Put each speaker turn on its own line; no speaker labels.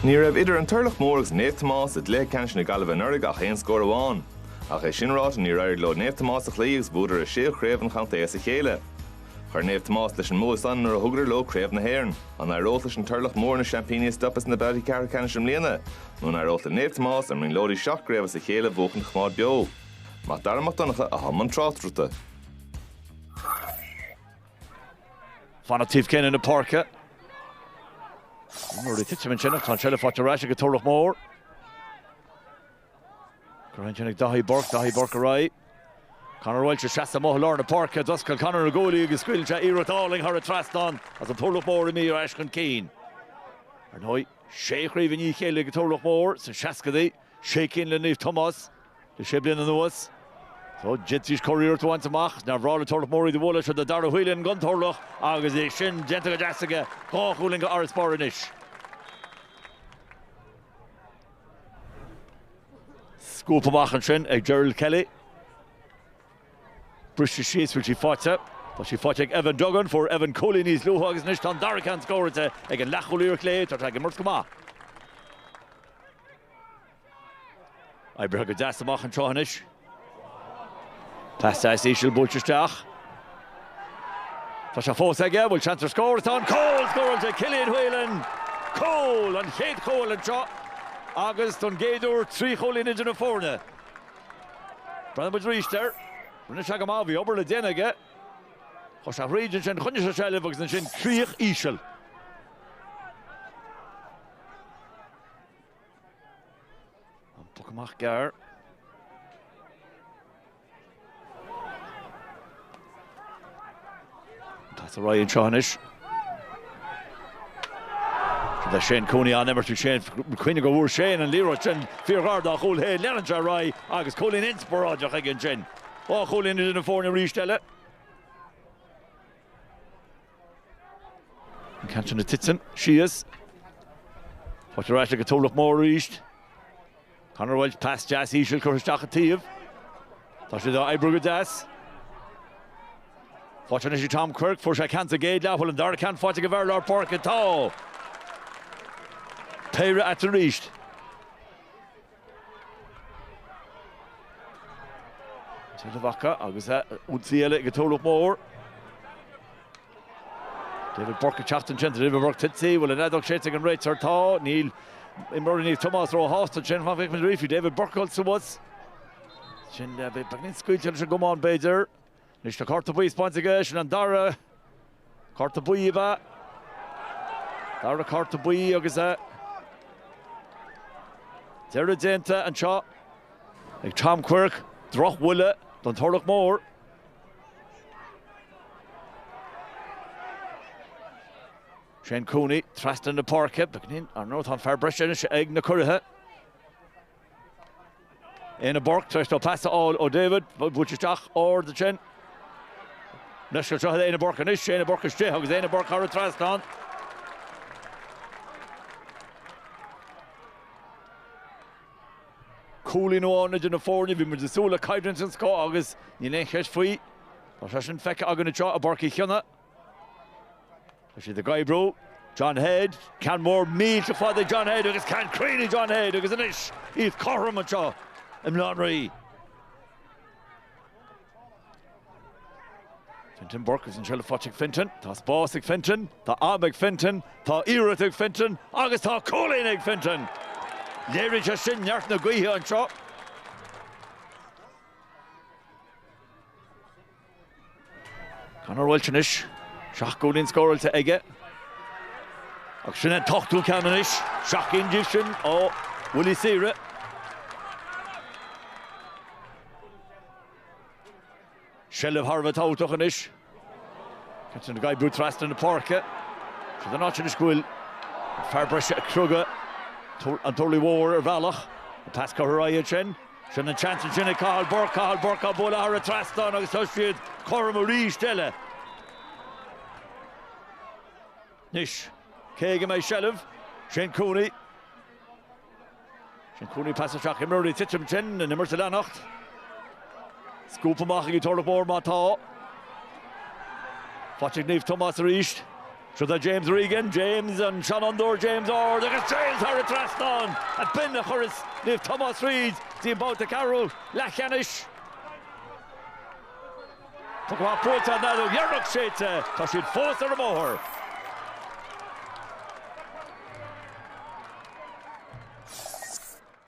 Ní raibh idir an Turlach Mór agus Naomh Tomás i gcluiche ceannais na Gaillimhe anuraidh ach aon scór amháin. Ach é sin ráite, níor éirigh leo Naomh Tomás a chloí agus bhuadar a séú craobh an chontae as a chéile. Chuir Naomh Tomás leis an mbua san nuair a thugadar leo Craobh na hÉireann. An éireodh leis an Turlach Mór na seaimpíní a stopadh sna babhtaí ceathrú ceannais i mbliana? Nó an éireodh le Naomh Tomás, a mbrionglóidí seacht gcraobh as a chéile a bhuachan a choimeád beo? Mac Dara Mac Donncha atá i mbun tráchtaireachta.
Fanacht taobh céanna na páirce. Nuair a titim ansin ach tá an seilbh faighte ar ais ag an Turlach Mór. Cur ansin ag Daithí Burke, Daithí Burke ar aghaidh. Conor Walsh ag seasamh amuigh i lár na páirce. D'oscail Conor na guaillí agus scaoileann sé iarracht álainn thar an trasnán agus an Turlach Mór imithe ar ais chun cinn. Ar ndóigh, sé chraobh i ndiaidh a chéile ag an Turlach Mór sna seascaidí. Sé cinn le Naomh Tomás le sé bliana anuas. Só, d'fhéadfaidís curiarracht a bhaint amach. Is nár bhreá le Turlach Mór iad a bhualadh. Siod é Dara Whelan don Turlach agus é sin déanta go deas aige, dhá chúilín d'fharasbarr anois. Scuabtha amach ansin ag Gerald Kelly. Briste síos, bhfuil sí faighte? Tá sí faighte ag Evan Duggan, fuair Evan cúilín níos luaithe agus anois tá an dara ceann scóráilte ag an leathchúlaí ar chlé, tá sé ag imirt go maith. Oibrithe go deas amach an tráth anois. Pas deas íseal buailte isteach. Tá sé fós aige, bhfuil seans ar scór, tá, an cúl scóráilte Cillian Whelan! Cúl! An chéad chúl anseo agus don gcéad uair trí chúilín idir na foirne. Breathnóidh muid aríst air. Rinne sé go maith, bhí obair le déanamh aige. Chuaigh sé thríd ansin, choinnigh sé seilbh agus ansin críoch íseal. An poc amach gearr. Pas ar aghaidh anseo anois go dtí Shane Cooney an-imirt ó Shane, cuimhnigh go bhfuair Shane an liathróid sin fíorghar dá chúl féin. Lean sé ar aghaidh agus cúilín inspioráideach aige ansin. Dhá chúilín idir na foirne arís eile. An ceann sin ag titim síos. Faighte ar ais ag an Turlach Mór arís. Conor Walsh, pas deas íseal curtha isteach an taobh. Tá sé dá oibriú go deas. Faighte anois ag Tom Quirke, fuair sé ceann sa gcéad leath, bhfuil an dara ceann faighte ag an bhfear lár páirce, tá! Péire eatarthu arís. Seilbh acu agus ionsaí eile ag an Turlach Mór. David Burke ag teacht ansin, David Burke tite, bhfuil an fheadóg séidte ag an réiteoir, tá, níl imreoirí Naomh Tomás ró-shásta ansin, fan go bhfeicfimid arís, bhí David Burke ag dul suas ansin, beagáinín scaoilte leis an gcamán b'fhéidir. Anois tá cárta buí spáinte aige, sin an dara cárta buí ab ea? Dara cárta buí agus deireadh déanta anseo ag Tom Quirke, drochbhuille don Turlach Mór. Shane Cooney trasna na páirce, beagnach, ar ndóigh tá an fear breise anois ag na curaithe. Éanna Burke tar éis dó pas a fháil ó David, bhuail sé isteach ard ansin. Leisce seo Éanna Burke anois, Éanna Burke istigh agus Éanna Burke thar an trasnán. Cúilín amháin idir na foirne, bhí muid ag súil le coimhlint den scoth agus níl aon cheist faoi. Tá sé sin feicthe againn anseo i bPáirc Uí Chionnaith. Tá siad ag oibriú. John Headd, ceann mór millteach fada ag John Headd agus ceann cruinn ag John Headd agus anois iad cothrom anseo i mBaile Átha an Rí. Fintan Burke agus an seilbh faighte ag Fintan. Tá spás ag Fintan, tá am ag Fintan, tá iarracht ag Fintan agus tá cúilín ag Fintan! Léiríonn sé sin neart na gaoithe anseo. Conor Walsh anois, seacht gcúilín scóráilte aige agus sin an t-ochtú ceann anois, seacht gcinn díobh sin ó bhuillí saoire. Seilbh thar a bheith tábhachtach anois. Cathal ag oibriú trasna na páirce. Siod é an áit anois go bhfuil fear breise ag criogadh an Turlaigh Mhóir ar bhealach, an pas curtha ar aghaidh ansin. Sin an-tseans ansin ag Cathal Burke, Cathal Burke á bualadh thar an trasnán agus tá siad cothrom arís eile. Anois, cé ag a mbeidh seilbh? Shane Cooney. Shane Cooney pas isteach, imreoir ag titim ansin, an imirt ag leanacht. Scuabtha amach ag an Turlach Mór má tá. Faighte ag Naomh Tomás arís. Siúd é James Regan, James, an seanfhondúir, James ard agus James thar an trasnán! Ab in a chuirfeas Naomh Tomás thríd go dtí an babhta ceathrú leathcheannais. Poc amach buailte, an fheadóg dheireanach séidte, tá siad fós ar an mbóthar!